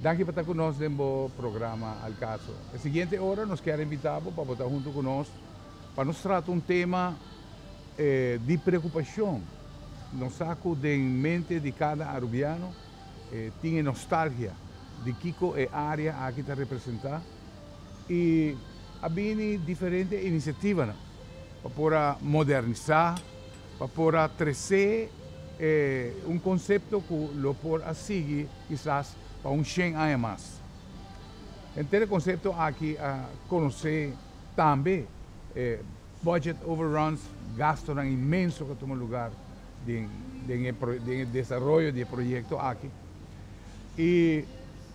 Danki pa ta ku nos den bo programa Al Caso. E siguiente ora nos kier invita bo pa bo ta huntu ku nos pa nos trata un tema di preokupashon. Nos sa ku den mente di kada arubiano tin e nostalgia di kiko e área aki ta representá i a bini diferente inisiativanan pa por a modernisá. Pa por a tresé e un konsepto ku lo por a sigui kisas pa un shen aña mas. Henter e konsepto aki a konosé tambe e budget overruns, gastonan inmenso ku a tuma lugar den den e desaroyo di e proyekto aki. I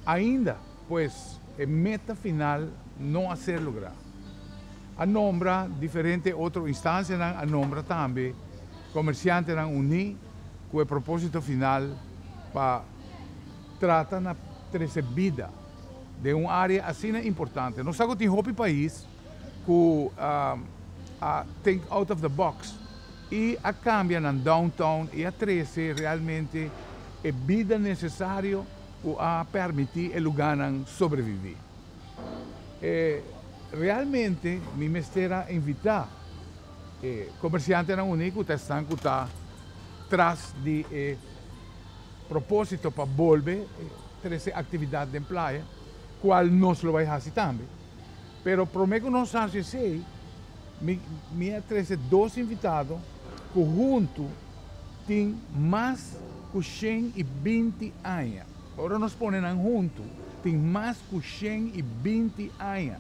ainda pues e meta final no a ser lugrá. a nombra diferente otro instancianan a nombra tambe comerciantenan uní cu e proposito final pa trata na trece bida den un area asina importante. Nos sa cu tin hopi pais cu a think out of the box y a cambia nan downtown y a trece realmente e bida necesario cu a permiti e luganan sobrevivi. E realmente mi mester a invita e comerciantenan uní cu ta esnan cu ta tras di e proposito pa bolbe trece actividad den playa, cual nos lo bay haci tambe. Pero prome cu nos haci esey, mi mi a trece dos invitado cu hunto tin mas cu shen y binti aña. Ora nos pone nan huntu, tin mas ku shen i binti aña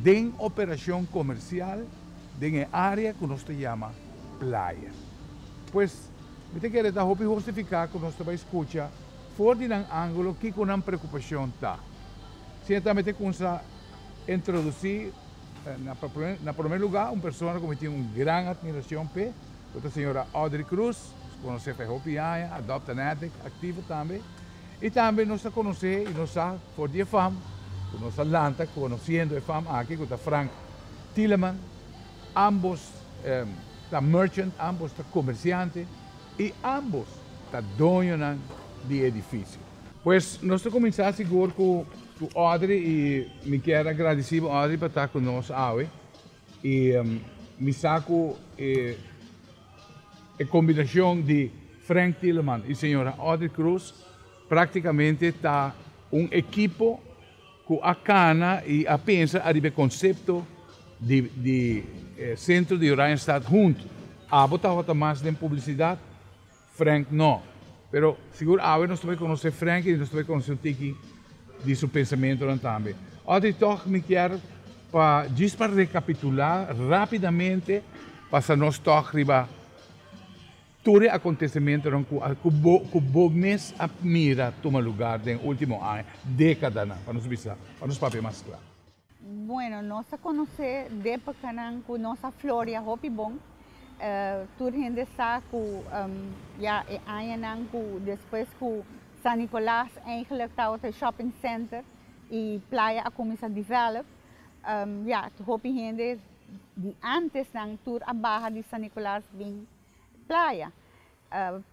den operashon komersial den e área ku nos ta yama playa. Pues, mi ta kere ta hopi hostifiká ku nos ta bai skucha for di nan ángulo kiko nan preokupashon ta. Sin e tambe te kunsa introdusí. Na prome lugá un persona ku mi tin un gran atmirashon p'e, lo ta señora Audrey Cruz, nos konos'é pa e hopi aña, a dòpta nèdèk, aktivo tambe. I tambe nos ta konos'é i nos sa for di e fam ku nos a lanta konosiendo e fam aki ku ta Frank Tieleman. Ambos ta merchant, ambos ta komersiante i ambos ta doñonan di e edifisio. Pues nos ta kuminsá sigur ku. Ku Audrey i mi kier a gradisí bo Audrey pa ta ku nos awe i mi sa ku e e kombinashon di Frank Tieleman i señora Audrey Cruz praktikamente ta un ekipo ku a kana i a pensa ariba e konsepto di di Sentro di Oranjestad Hunt. Abo tabata mas den publisidat. Frank no. Pero sigur awe nos ta bay conoce Frank y nos ta bay conoce un tiki di su pensamentonan tambe. Audrey toch mi kier pa djis pa recapitula rapidamente pasa nos toch riba tur e acontecementonan cu a cu bo cu bo mes a mira tuma lugar den ultimo aña, decadanan pa nos bisa pa nos papia mas cla. Bueno, nos a conoce d'epocanan cu nos a floria hopi bon. Tur hende sa cu ya e añanan cu despues cu San Nicolas eigenlijk tabata e shopping center y playa a cuminsa develop, ya, hopi hende di antesnan tur a baha di San Nicolas bin playa.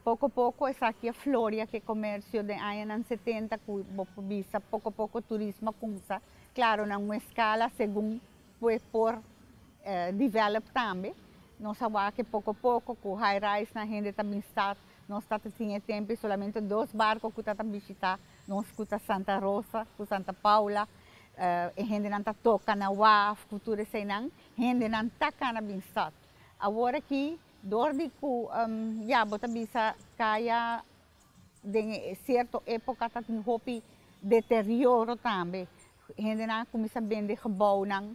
Poko poko esaki a floria ke komersio den añanan setenta ku bo por bisa poko poko turismo a kumsa, klaro na un eskala segun ku e por develop tambe. Nos a wak e poko poko ku high rise nan hende ta bin stat, nos ta ta tin e tempe solamente dos barko ku ta ta bishita nos ku ta Santa Rosa ku Santa Paula, e hendenan ta toka na waf ku tur eseinan, hendenan ta kana bin stat. Awor aki. Dor di ku ya bo ta bisa kaya den sierto epoka ta tin hopi deterioro tambe, hendenan a kuminsá bende gebounan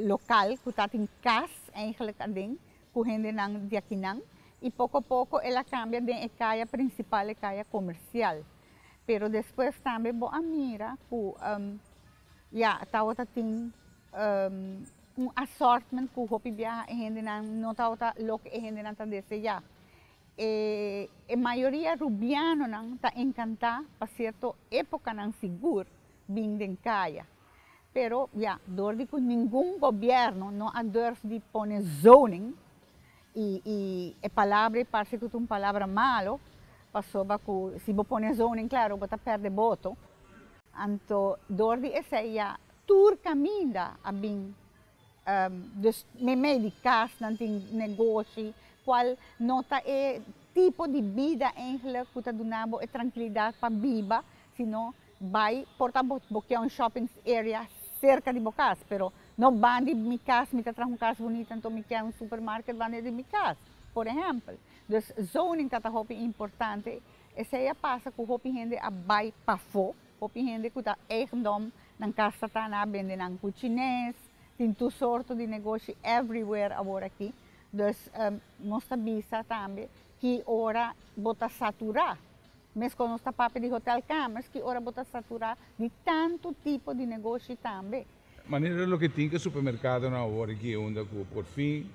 lokal ku ta tin kas eigentlik aden ku hendenan di akinan i poko poko el a kambia den e kaya prinsipal e kaya komersial pero despues tambe bo a mira ku ya tabata tin. Un assortment cu hopi biaha e hendenan no tabata loke e hendenan ta deseá. E e mayoria Rubianonan ta encantá pa cierto epocanan sigur bin den caya. Pero ya, dor di cu ningun gobierno no a durf di pone zoning, y y e palabra y parce cu ta un palabra malo, pasobra cu si bo pone zoning claro bo ta perde boto, anto dor di esey ya. Tur caminda a bin dus meimei di casnan tin negoshi cual no ta e tipo di bida eigenlijk cu ta duna bo e trankilidad pa biba sino bai por ta bo bo kier un shopping area cerca di bo cas pero no ban di mi cas mi ta traha un cas bunita enton mi kier un supermarket ban den di mi cas por ehempel dus zoning ta ta hopi importante esey a pasa cu hopi hende a bai pafo. Hopi hende ku ta eigendom nan kasa ta na bende nan ku chines, tin tur sorto di negoshi everywhere awor aki, dus nos ta bisa tambe ki ora bo ta saturá, mes kon nos ta papia di hotel kamers ki ora bo ta saturá di tantu tipo di negoshi tambe. Manera loke tin ke supermerkadonan awor aki e unda ku por fin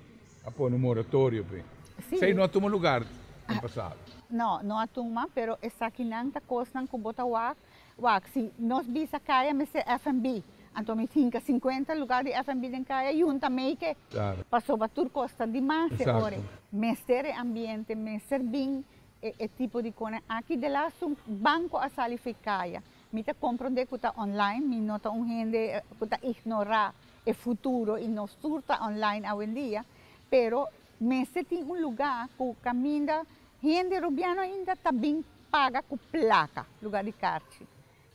a pone un moratorio p'e. Esei no a tuma lugar den pasado. No, no a tuma, pero esakinan ta kosnan ku bo ta wak. Wak, si nos bisa kaya mester FNB, anto mi finka sinkuenta lugar di FNB den kaya yunta mei ke. Klaro. Pasobra tur kos ta di mas e ora. Eksakto. Mester e ambiente, mester bin e tipo di konan aki. Delastu banko a sali fei kaya, Mi ta comprende cu ta online, mi no ta un hende cu ta ignora e futuro y nos tur ta online awendia, pero mester tin un luga cu caminda hende Rubiano ainda ta bin paga cu placa lugar di carchi.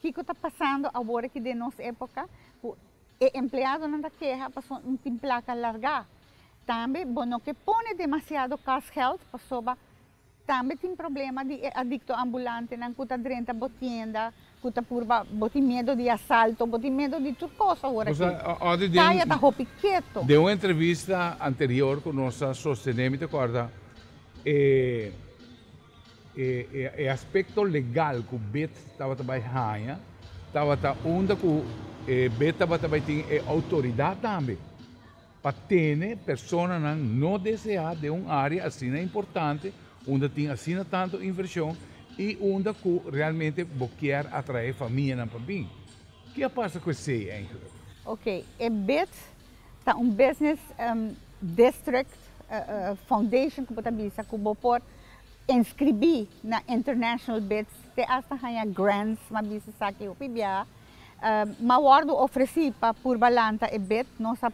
Kico ta pasando awor aki den nos epoca cu e empleadonan ta keha pasobra no tin placa larga. Tambe bo no ke pone demasiado kostgeld pasobra Tambe tin problema di e adikto ambulantenan ku ta drenta bo tienda, ku ta purba, bo tin miedo di asalto, bo tin miedo di tur kos awor aki. Kaya ta hopi keto. Den un entrevista anterior ku nos a sostené, mi ta kòrda e aspekto legal ku bet tabata bai haña tabata unda ku bet tabata bai tin e outoridat tambe. Pa tene personanan no deseá den un área asina importante, unda tin asina tantu invershon i unda ku realmente bo kier atraé famianan pa bin. Ke a pasa ku esei enkele? Oke, e bid ta un business district foundation ku bo ta bisa ku bo por inskribí na international bids te asta haña grants, mi a bisa esaki hopi biaha. M'a wòrdu ofresí pa purba lanta e bet nos a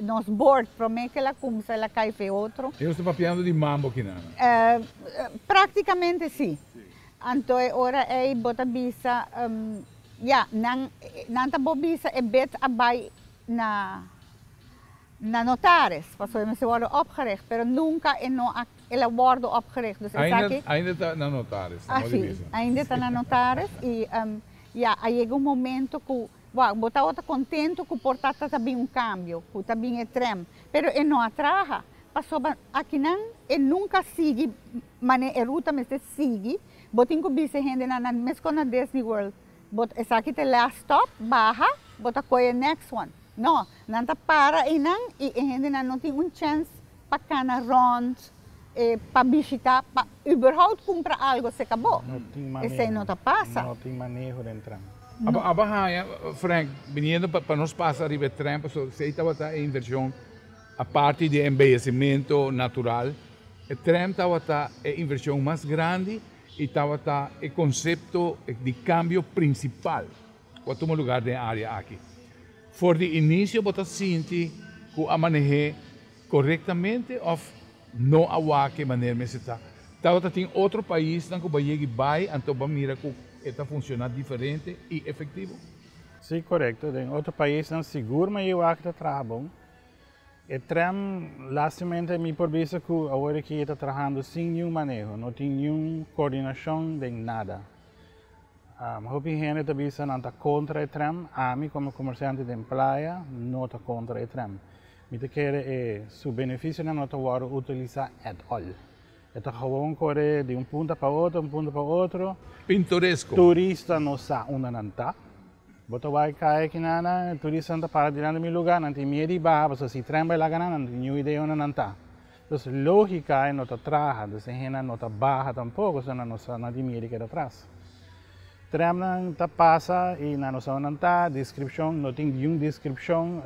nos bord, promé k'el a kumsa el a kai p'e otro. Nos ta papiando di mambo kinana. Práktikamente sí. Anto e ora ei bo ta bisa, Ya, nan nan ta bo bisa e bet a bai na na notaris, pasobra e mester wòrdu opgericht, pero nunka e no a el a wòrdu opgericht. Dus esaki. Ainda ainda ta na notaris, ta modi bisa. Así, ainda ta na notaris i. Ya a yega un momento cu bo bo tabata contento cu por ta ta bin un cambio, cu ta bin e tren, pero e no a traha, pasobra akinan e nunca a sigui mane e ruta mester sigui, bo tin cu bisa e hendenan na mescos na Disney World, bo esaki ta e last stop, baha, bo ta coge e next one, no, nan ta para eynan y e hendenan no tin un chance. pa cana rond, e pa bishita, pa überhaupt cumpra algo se cabo. Esey no ta pasa. No tin maneho den tren. No. Abo haya Frank biniendo pa nos pasa riba e tren paso esey tabata e inversion aparte di e embellecimento natural, e tren tabata e inversion mas grandi y tabata e concepto di cambio principal. Ku a tuma lugar den e área aki. For di inisio bo ta sinti ku a maneh'é korektamente òf no a wak e manera mester ta. Tabata tin otro paisnan ku bo yegi bai anto bo a mira ku e ta funshoná diferente i efektivo. Sí, korekto, den otro paisnan sigur meier wak e ta traha bon. E trèm lástimaente mi por bisa ku awor aki e ta trahando sin niun maneho, no tin niun koordinashon den nada. Hopi hende ta bisa nan ta kontra e tren, ami kome komersiante den playa no ta kontra e tren. Mi ta kere e su benefisionan no ta wòrdu utilisá at all. E ta hawon kore di un punta pa otro, un punta pa otro. Pintoresko. Turista no sa unda nan ta. Bo ta wak kai aki nan, turistanan ta para dilanti mi lugá, nan tin miedu di baha pasobra si e tren bai laga nan, nan tin niun idea unda nan ta. Los lógika ei no ta traha, dus e hennan no ta baha tampoko, so nan no sa na di mia di keda atras. Trèmnan ta pasa i nan no sa unda nan ta, deskripshon no tin diun deskripshon,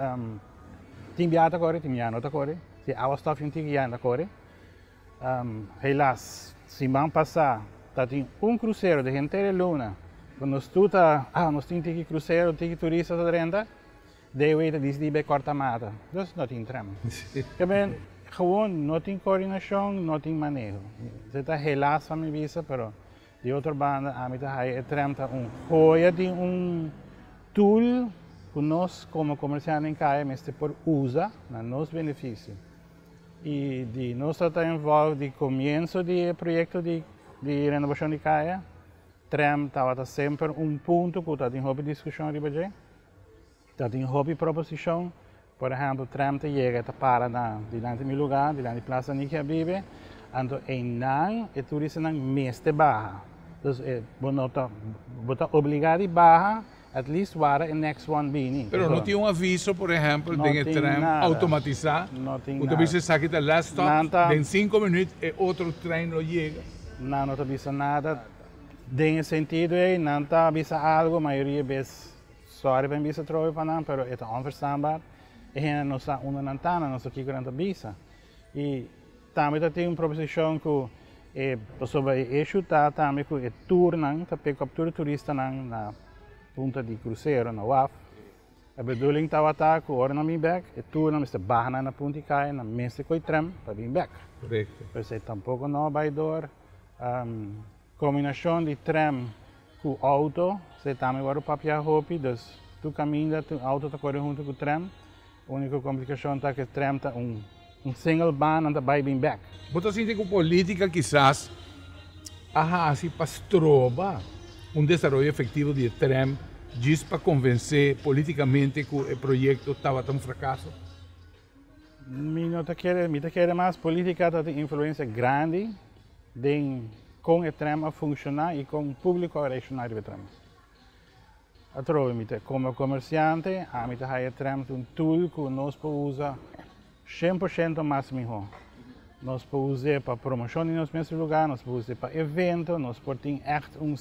tin biaha ta kore, tin biaha no ta kore, tin awa stòf i un tiki ya i na kore. Helas, siman pasá ta tin un krusero di Gentele Luna ku nos tur ta, ah nos tin tiki krusero, tiki turista ta drenta, Dei wei ta dis di be corta mata, dus no tin tram. Ta ben gewoon no tin coordinacion, no tin maneho. Ze ta helaas pa mi bisa, pero di otro banda ami ta haya e tram ta un hoya di un tool cu nos como comercianten den caya mester por uza na nos beneficio. Y di nos ta ta involve di comienzo di e proyecto di di renovacion di caya, tram tabata semper un punto cu ta tin hopi discusion riba dje. Ta tin hopi proposishon. Por ehèmpel, trèm ta yega, e ta para na dilanti di mi lugá, dilanti di Plas Aniki a bibe. Anto einan e turistanan mester baha. Dus bo no ta, bo ta obligá di baha at least wara e next one bini. Pero no tin un aviso, por ehèmpel, den e trèn outomatisá ku ta bisa esaki ta last stop, den sinku minüt e otro trein lo yega? Nan no ta bisa nada. Den e sentido ei, nan ta bisa algo, mayoria bes, sorry pa mi bisa trobe pa nan, pero e ta onverstaanbaar. E hende no sa unda nan ta, nan no sa kiko nan ta bisa. I tambe ta tin un proposicion ku e, pasobra e issue ta tambe ku e toernan ta pekop tur e turistanan na punta di krusero, na waf. E bedoeling tabata ku ora nan bin bèk, e tur nan mester baha nan na punt di kaya, nan mester koi trèm pa bin bèk. Korekto. Pues e tampoko no bai dor. Kombinashon di trèm ku outo, se tambe wòrdu papiá hopi, dus tur kaminda tur outo ta kore huntu ku trèm. Uniko komplikashon ta ku e trèm ta un. Un single band nan ta bai bin bek. Bo ta sinti ku polítika kisas a hasi pa stroba un desaroyo efektivo di e tren djis pa konvensé polítikamente ku e proyekto tabata un frakaso? Mi no ta kere, mi ta kere mas polítika ta tin influensia grandi den kon e tren a funshoná i kon públiko a reakshoná riba e tren. Atrobe mi ta como comerciante ami ta haya tremp un tool cu nos por usa cien por ciento mas miho nos por us'e pa promocion di nos mes lugar nos por us'e pa evento nos por tin echt un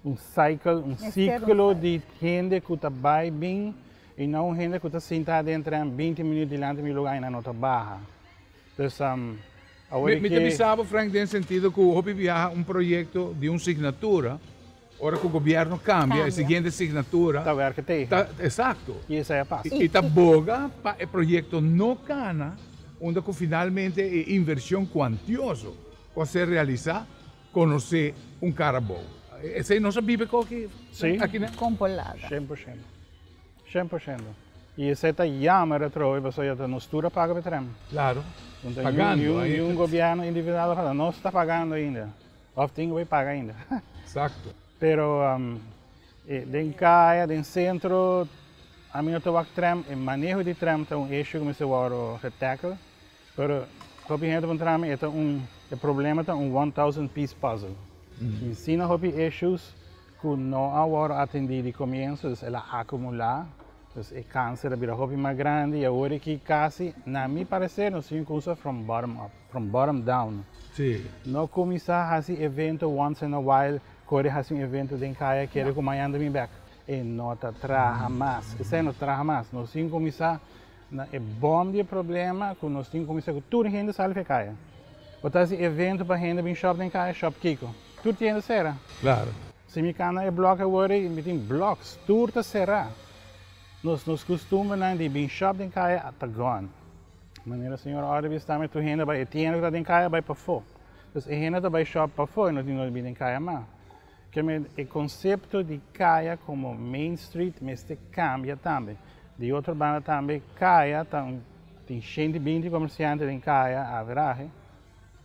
un cycle un ciclo di hende cu ta bay bin y no un hende cu ta sinta den tremp binti minuut dilanti mi lugar y nan no ta baha dus awor mi ta bisa bo Frank den sentido cu hopi biaha un proyecto di un signatura. Ora ku gobièrnu kambia, e siguiente signatura. Ta werk'e tegen. Ta, esakto. I esei a pasa. I ta boga pa e proyekto no kana unda ku finalmente e invershon kuantioso ku a ser realisá konosé un kara abou. Esei nos a biba ko aki? Sí. Aki na. Kon por laga. Shen por shendo. Shen por shendo. I esei ta yammer atrobe pasobra ya ta nos tur a paga pa e trèm. Klaro. Pagando ainda. Ni un gobièrnu individual a fala, Nos ta pagando ainda. Of tin cu bay paga ainda. Exacto. Pero den caya, den centro, ami no ta wak tram. E maneho di tram ta un issue cu mester wordo ge tackle. Pero hopi hende puntra na mi e ta un, e problema ta un one thousand piece puzzle. Mi si na hopi issues cu no a wordo atendi di comienso, dus el a acumula, dus e cancer a bira hopi mas grandi y awor aki casi, na mi parecer, nos tin cu cusa from bottom up. From bottom down. Sí. No cuminsa haci evento once in a while, kore haci un evento den caya kere cu mañana ta bini bek. E no ta traha mas. Esai no ta traha mas. Nos tin cuminsa na e bom di e problema cu nos tin cuminsa cu tur hende sali pa e caya. Bo ta haci evento pa hende bini shop den caya, shop kico? Tur ti hende cera. Claro. Si mi can na e block awor y mi tin blocks, tur ta cera. Nos nos custumbernan di bini shop den caya ta gone. Manera señor Ory bi sta mi tur hende bai e tienda ku ta den kaya bai pafó. Entonces e hende ta bai shop pafó e no tin dónde bin den kaya mas. Keme e konsepto di kaya komo main street mester kambia tambe. Di otro banda tambe kaya ta un tin shen di binti komersiante den kaya averahe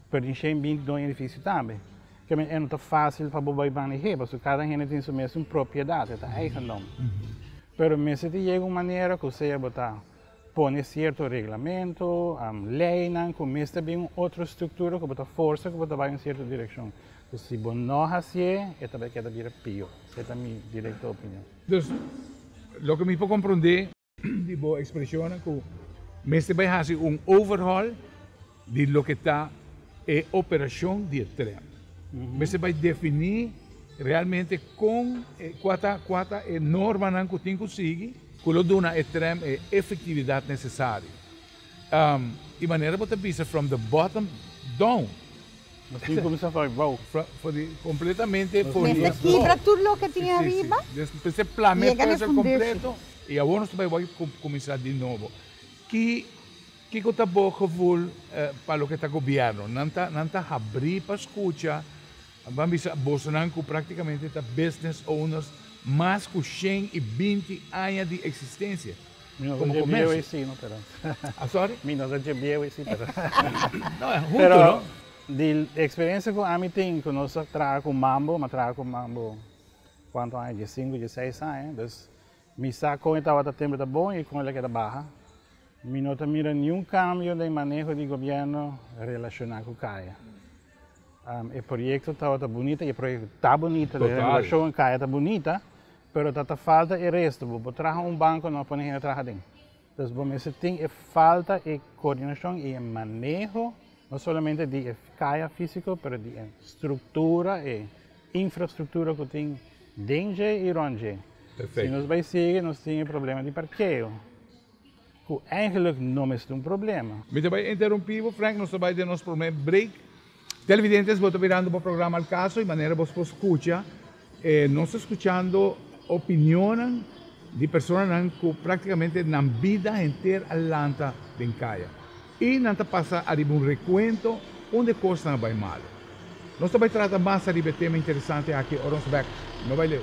pero tin shen binti doño edifisio tambe. Keme e no ta fásil pa bo bai maneh'é pasobra kada hende tin su mes un propiedat e ta eigendom. Pero mester tin yega un manera ku sea bo ta. Pone sierto reglamento, leynan cu mester den un otro structura cu bo ta forsa cu bo ta bay un sierto direccion. Cu si bo no haci'e, e ta bay keda bira pio. Se ta mi directo opinion. Dus, loke mi por comprende di bo expresionnan cu mester bay haci un overhaul. di loke ta e operashon di e tren. Mester bai definí realmente kon, kua ta, kua ta e normanan ku tin ku sigui ku lo duna e tren e efektividat nesesario. E manera bo ta bisa from the bottom down. Mas tin kuminsá for di bou. For di kompletamente for di bou. Mester kibra tur loke tin ariba i yega na e fundeshi. Kompleto i awor nos ta bai kuminsá di nobo. Ki. Kiko ta bo gevoel pa loke ta gobièrnu? Nan ta habrí pa skucha. Mi ban bisa bosonan ku práktikamente ta business owners mas ku shen i binti aña di eksistensia komo komèrsio. Asòri? Mi no ta djebieu i si, pero. No, huntu no? Di eksperensia ku ami tin ku nos a traha ku Mambo, mi a traha ku Mambo kuantu aña, diesinku dieseis aña, dus. Mi sa kon e tabata tembe ta bon i kon el a keda baha. Mi no ta mira niun kambio den maneho di gobièrnu relashoná ku kaya. E proyekto tabata bunita i e proyekto ta bunita, e renovashon den kaya ta bunita, pero ta ta falta e restu. Bo por traha un banko, no a pone hende traha aden. Entonces bo mester tin e falta e coordinacion y e maneho no solamente di e caya fisico pero di e structura, e infrastructura cu tin den dje y rond dje. Si nos bay sigui nos tin e problema di parkeo cu eigenlijk no mes ta un problema. Mi ta bay interrumpi bo Frank, nos ta bay den nos prome break. Televidentes bo ta mirando bo programa El Caso y manera bo por scucha e nos ta scuchando opinionnan di personanan cu practicamente nan bida henter a lanta den caya y nan ta pasa ariba un recuento un de cosnan a bay malo. Nos ta bay trata mas ariba e tema interesante aki ora nos bek. No bay leu.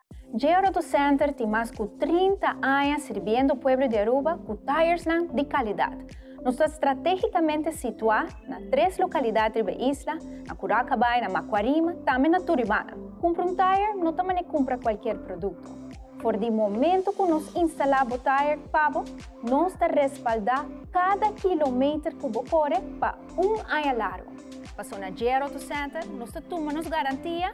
Geo Roto Center tin mas cu trinta aña sirbiendo pueblo di Aruba cu tayersnan di calidad. Nos ta strategicamente situa na tres localidad riba e isla, na Curacabaai, na Macuarima, tambe na Turibana. Cumpra un tayer no ta mane cumpra cualkier producto. For di momento cu nos instala bo tayer pa bo, nos ta respalda cada kilometer cu bo core pa un aña largo. Pasobra na Geo Roto Center nos ta tuma nos garantia.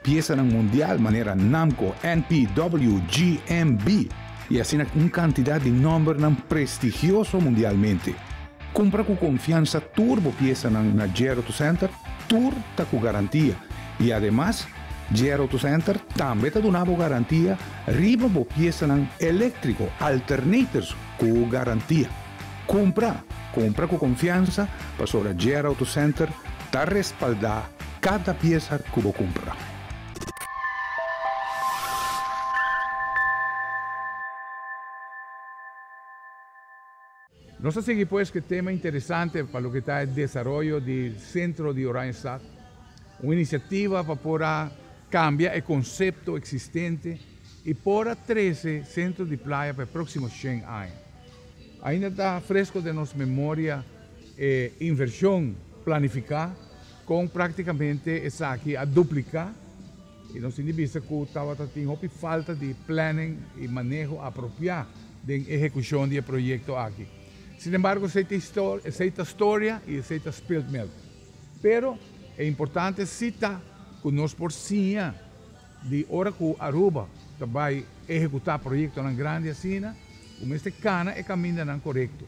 Piesanan mundial manera Namco, NPW, GMB i asina un kantidat di nòmbernan prestigioso mundialmente. Kumpra ku konfiansa tur bo piesanan na JR Auto Center tur ta ku garantia i ademas JR Auto Center tambe ta duna bo garantia riba bo piesanan eléktriko, alternators, ku garantia. Cumpra! Cumpra cu confiansa pasobra JR Auto Center ta respalda cada pieza cu bo cumpra. Nos ta sigui pues cu e tema interesante pa loke ta e desaroyo di Centro di Oranjestad, un iniciativa pa por a cambia e concepto existente y por a trece centro di playa pa e proximo shen aña. Ainda ta fresko den nos memoria e invershon planifiká kon práktikamente esaki a dupliká i nos tin di bista ku tabata tin hopi falta di planning i maneho apropiá den ehekushon di e proyekto aki. Sinembargo esei ta historia, esei ta storia i esei ta spilled milk. Pero e importante si ta ku nos por siña. Di ora ku Aruba ta bai ehekutá proyektonan grandi asina, bo mester kana e kamindanan korekto.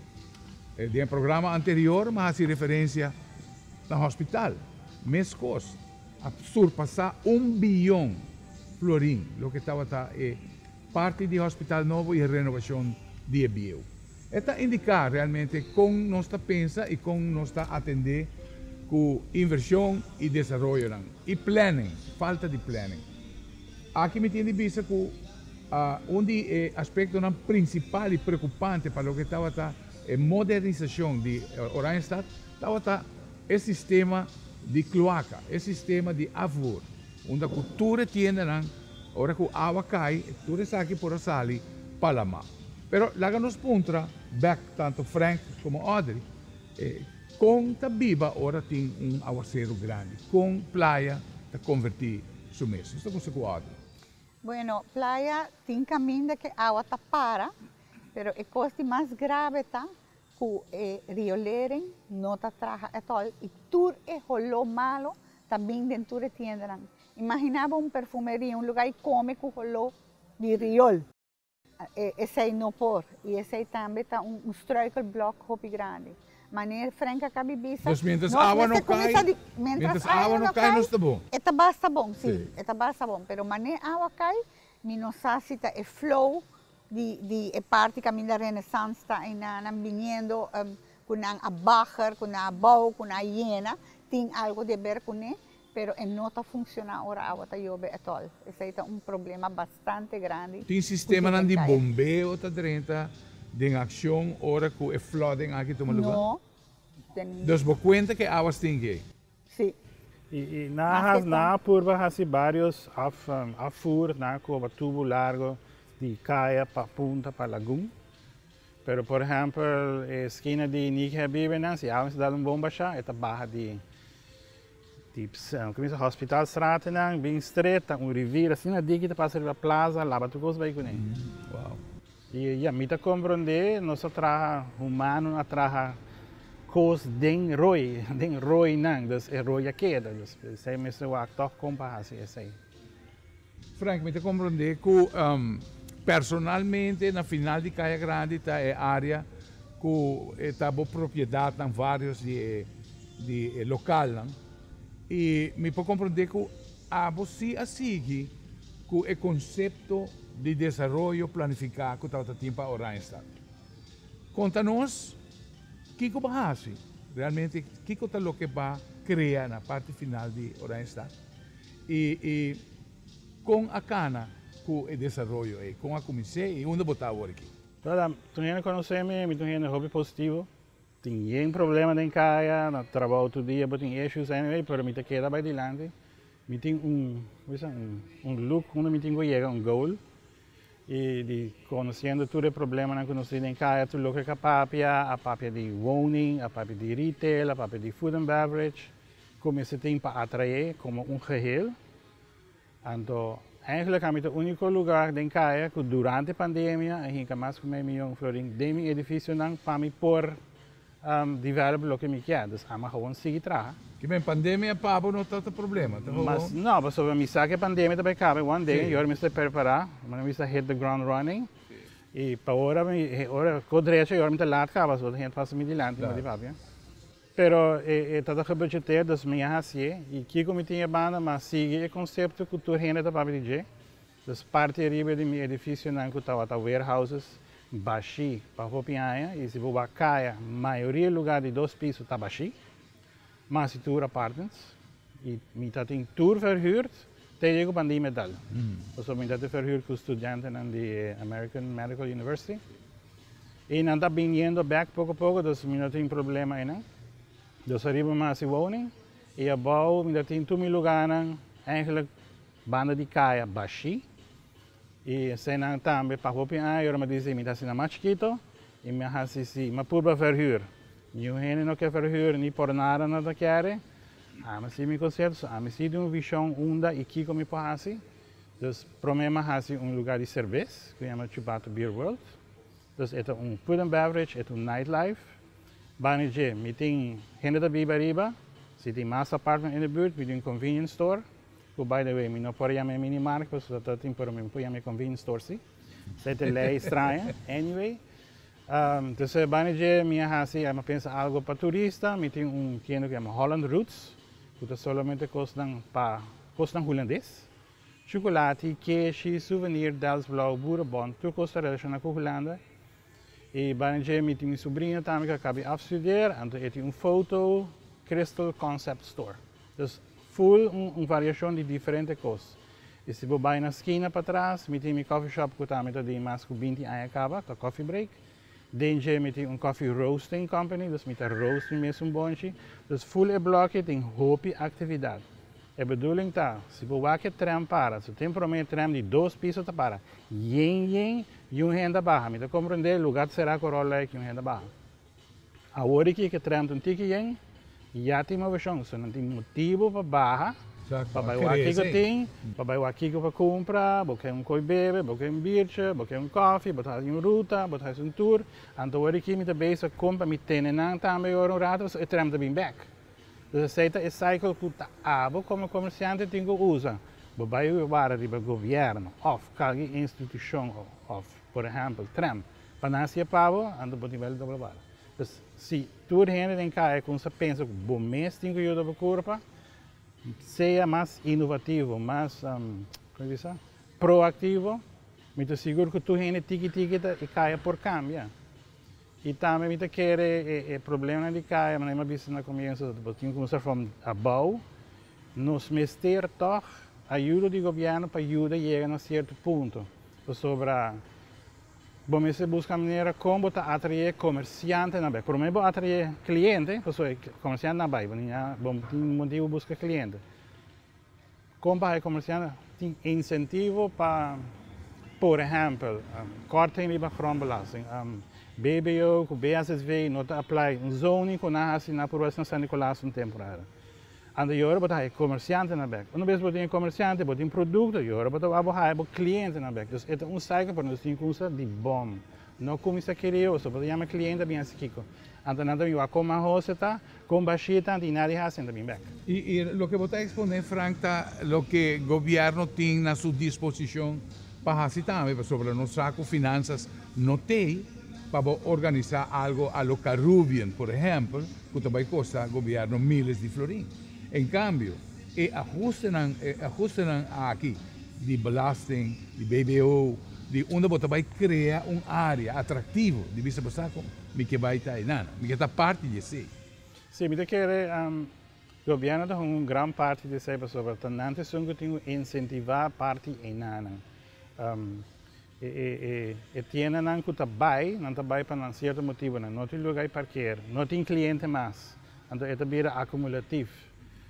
Den e programa anterior mi a hasi referensia na hospital. Meskos a surpasá un biyon florin, loke tabata e Parti di Hospital Nobo i e renovacion di e bieu. E ta indica realmente con nos ta pensa i con nos ta atende cu inversion i desaroyonan. I planning, falta di planning. Aki mi tin di bisa cu un di e aspectonan principal i preocupante pa loke tabata e modernisacion di Oranjestad tabata e sistema di cloaca, e sistema di afvoer. Unda ku tur e tiendanan, ora ku awa kai, tur esaki por a sali pa la mar. Pero laga nos puntra bèk tantu Frank komo Audrey, Kon ta biba ora tin un awaseru grandi? Kon playa ta konvertí su mes? Nos ta konsé ku Audrey. Bueno, playa tin kaminda ku e awa ta para, pero e kos di mas grave ta Cu e riolering no ta traha atol y tur e holó malo ta bin den tur e tiendanan. Imagina bo un perfumeria, un lugar y come cu holó di riol. Esey no por y esey tambe ta un struikelblok hopi grandi. Maneer Frank a cabi bisa, Nos mientras awa no cay, mientras awa no cay nos ta bon. E ta basta bon, sí, e ta basta bon, pero maneer awa cay mi no sa si ta e flow di di e parti caminda Renaissance ta ayna nan biniendo em cu nan a bager cu nan a bou cu nan a yena tin algo di haber cune pero e no ta funciona ora awa ta yobe at all esey ta un problema bastante grandi Tin sistemanan di bombeo ta drenta den accion ora cu e flooding aki tuma lugar? No. Ten. Dos bo cuenta cu e awa stinky? Sí. Y nan a purba haci varios afvoer nan a coba tubo largo di caya pa punta pa lagun. Pero por ehempel e esquina di Niki Habibi nan si awa mi sa dal un bon basha e ta baha di Hospital Straat nan bin stret ta un rivier asina diki ta pasa riba plaza laba tur cos bay cune. Ya, mi ta komprondé, nos a traha, humano a traha kos den roi, den roinan, dus e roi a keda, dus p'esei mester wak tòg kon pa hasi esei. Frank, mi ta komprondé ku personalmente na final di Kaya Grandi ta e área ku e ta bo propiedatnan, vários di e lokalnan, i mi por komprondé ku Abo si a sigui cu e concepto di desaroyo planifica cu tabata tin pa Oranjestad. Conta nos kico ba haci, realmente kico ta loke ba crea na parti final di Oranjestad y y con a cana cu e desaroyo ey, con a cuminse y unda bo ta awor aki. Verdad, mi ta un hende conoce mi, mi ta un hende hopi positivo. Tin yen problema den kaya, na trabou tur dia bo tin issues anyway, pero mi ta keda bai dilanti, mi tin un hoe sa un look unda mi tin ku yega un goal y di conociendo tur e problemanan ku nos tin den kaya tur loke ka papia, a papia di woning, a papia di retail, a papia di food and beverage, ku mester tin pa atrae como un geheel. Anto, eigenlijk ami ta unico lugar den Caya cu durante pandemia a hinca mas cu mei miyon florin den mi edificionan pa mi por develop loke mi kier. Dus ami a gewoon sigui traha. Ki men, pandemia pa bo no ta ta problema? Ta gewoon. Mas no, pasobra mi sa cu e pandemia ta bay cabe one day y ora mi sta perpara, mi no bisa hit the ground running. Y pa ora mi, ora, co drecho y ora mi ta laat caba, so ta hent fácil mi dilanti, mi di papia. Pero e tabata gebeurd dje ter, dus mi a hacié. I kico mi tin e banda, mi a sigui e concepto cu tur hende ta papia di dje. Dus parti ariba di mi edificionan cu tabata warehouses, bashí pa hopi aña, i si bo wak caya, mayoria lugar di dos piso ta bashí, mas di tur apartments. I mi ta tin tur verhuurd te dje cu pandimia a dal, pasobra mi ta tin verhuurd cu studiantenan di e American Medical University. Y nan ta bin yendo bek poco poco, dus mi no tin problema eynan. Dus a riba mas di woning y abao mi ta tin tur mi lugarnan eigenlijk banda di kaya bashi. Y esey nan tambe pa hopi aña ora mi a dici mi ta asina mas chikito y mi a haci si mi a purba verhuur. Niun hende no ke verhuur ni por nada nan ta kere. Ami a haci mi concepto, so ami si tin un vision unda y kico mi por haci. Dus prome mi a hasi un luga di serbes ku yama Chubato Beer World. Dus e ta un food and beverage, e ta un nightlife. Bani dje, mi tin hende ta biba ariba. Si tin mas apartment in e buurt, mi di un convenience store, ku by the way mi no por a yama e mini market pasobra ta ta tin pero mi por yama e convenience store si. Ta e te lei straña. Anyway, dus bani dje mi a hasi, a pensa algo pa turista, mi tin un tienda ku yama Holland Roots, ku ta solamente kosnan pa. Kosnan Hulandes, chukulati, keshi, suvenir, Delftsblauw, boerenbont, tur kos ta relashoná ku Hulanda. E baran dje mi tin mi subriño tambe ku a kabi af studer, anto e tin un foto Crystal Concept Store. Dus ful un variashon di diferente kos. I si bo bai na skina patras, mi tin mi kòfi shòp ku tambe ta den mas ku binti aña kaba, ta Kòfi Break. Den dje mi tin un coffee roasting company, dus mi ta roast mi mes un bonchi. Dus full e blokkie tin hopi actividad. E bedoeling ta, si bo wak e tren para, su tin prome tren di dos piso ta para yen yen y un hende a baha. Mi ta comprende, lugar ta cera cu Rollei cu un hende a baha. Awor di ki e ke tren ta un tiki yen. Ya tin moveson, so nan tin motibu pa baha pa bai wak kiko tin, pa bai wak kiko pa kumpra, bo ke un koi bebe, bo ke un biertje, bo ke un kofi, bo ta hasi un ruta, bo ta hasi un tur, anto wor aki mi ta bezig kon pa mi tene nan tambe ora un rato pasobra e trèm ta bin bèk. Dus esei ta e cycle ku ta abo komo komersiante tin ku usa, bo bai wara riba gobièrnu òf kalke institushon òf por ehèmpel trèm pa nan hasi e pa bo, anto bo tin bai tabata wara. Dus si. Tur hende den kaya ku sa pensa ku bo mes tin ku yuda bo kurpa, sea mas inovativo, mas kon e di sa? proaktivo, mi ta sigur ku tur hende tiki tiki ta e kaya por kambia. I tambe mi ta kere e problemanan di kaya, manera mi a bisa na komienso, bo tin ku kuminsá from abou. Nos mester tòg ayudo di gobièrnu pa yuda yega na sierto punto, pasobra. Bo mester buska manera kon bo ta atrae komersiantenan bai. Prome bo atrae kliente, pasobra e komersiante na bai, bo tin ya, bo tin motibu buska kliente. Kon pa haña komersiante? Tin insentivo pa, por ehèmpel, kòrting riba grondbelasting. BBO ku BHSW no ta apply un zoning ku nan hasi na Provinsia San Nicolas un temporada. Ante yora bo ta haya comerciante na bek. Una bes bo tin e comerciante, bo tin producto, yora bo ta wak bo haya bo cliente na bek. Dus e ta un cycle pa nos tin cunsa di bon. No cuminsa kirioso, bo ta yama e cliente a bin haci kico. Ante nan ta bin wak con mas hoose ta, con bashi ta, ante y nadie haci, nan ta bin bek. Y loke bo ta expone Frank ta loke gobierno tin na su disposicion Pa hasi tambe pasobra nos sa cu finanzas no t'ey pa bo organisa algo a lo Carubien, por ehempel, cu ta bay costa gobierno miles di florin. En cambio, e ajustenan, e ajustenan aki di belasting, di bbo, di unda bo ta bay crea un area atractivo di bisa bo sa cu mi ke bay ta enan, mi ke ta parti di esey. Si, mi ta kere Gobièrnu ta hunga un gran parti di esei pasobra ta nan ta esun ku tin ku insentivá parti einanan. E tiendanan ku ta bai, nan ta bai pa nan sierto motibunan. No tin lugá di parker, no tin kliente mas, anto e ta bira akumulativ.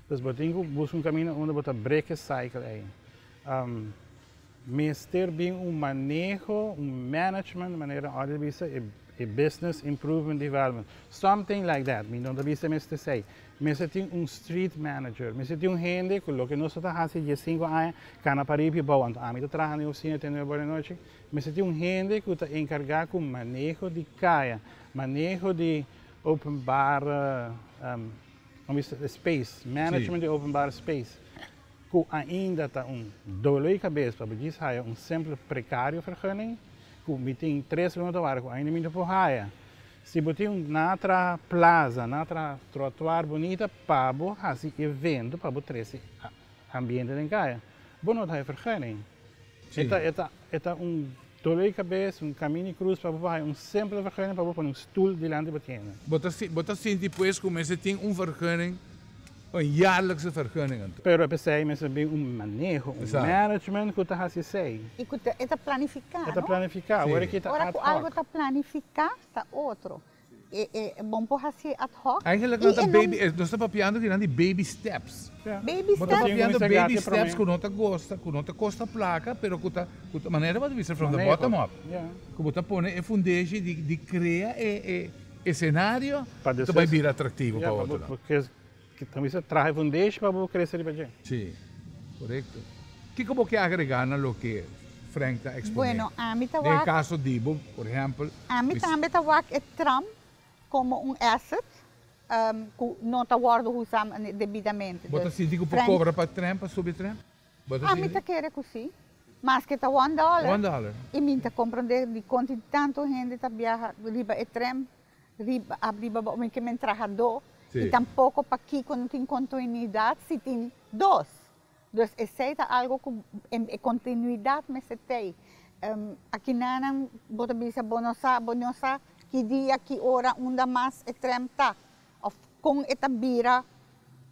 Dus bo tin ku buska un kaminda unda bo ta brek e cycle ei. Mester bin un maneho, un management, manera Audrey bisa, e e business improvement development, something like that, mi no ta bisa mester sei. Mester tin un street manager, mester tin un hende ku loke nos lo ta hasi dies sinku aña kana pariba i bou, anto ami ta traha na e usina te nueve ora di nochi, mester tin un hende ku ta enkargá ku maneho di kaya, maneho di openbare space, management di openbare space. ku ainda ta un doloi kabes pa bo djis haya un simple prekario fergunning, ku mi tin tres luna ta wara ku ainda mi no por haya. Si bo tin un na traha plaza, na traha trotuar bunita pa bo hasi evento, pa bo trese ambiente den kaya, bo no ta haya fergunning. Si. E ta un dole di kabes, un kaminda di krus pa bo baha, i un sempel vergeuning pa bo pone un stul dilanti bo tienda. Bo ta sinti pues ku mester tin un vergeuning, un yarlikse vergeuning anto. Pero p'esei mester bin un maneho, un management ku ta hasi esei. I ku e ta planifiká, no? E ta planifiká, ora ku e ta ad hoc. Ora ku algu ta planifiká ta otro. E bon por hasi ad hoc. Eigenlijk nan ta baby, nos ta papiando di nan di baby steps. Baby step. Bo ta papiando baby steps ku no ta gosta, ku no ta kosta plaka, pero ku ta, manera bo ta bisa from the bottom up. Ku bo ta pone e fundeshi di krea e senario ku ta bai bira atraktivo pa otronan. Ki ta mester traha e fundesh pa bo krese riba dje? Sí, korekto. Kiko bo ke agregá na loke Frank ta eksponé? Bueno, ami ta wak. Den e kaso di bo, por ehèmpel. Ami tambe ta wak e tram komo un èsèt ku no ta wòrdu usá debidamente. Bo ta sinti ku por kobra pa tren, pa subi tren? Bo ta sinti? Ami ta kere ku sí. Maske ta wòndòler. Wòndòler. I mi ta komprondé dikon tin tantu hende ta biaha riba e tren. Riba bo mi ke men traha do i tampoko pa kiko no tin kontuinidat si tin dos. Dus esei ta algu ku e kontinuidat mester tei. Akinanan bo ta bisa bo no sa, bo no sa ki dia, ki ora, unda mas e trèm ta òf kon e ta bira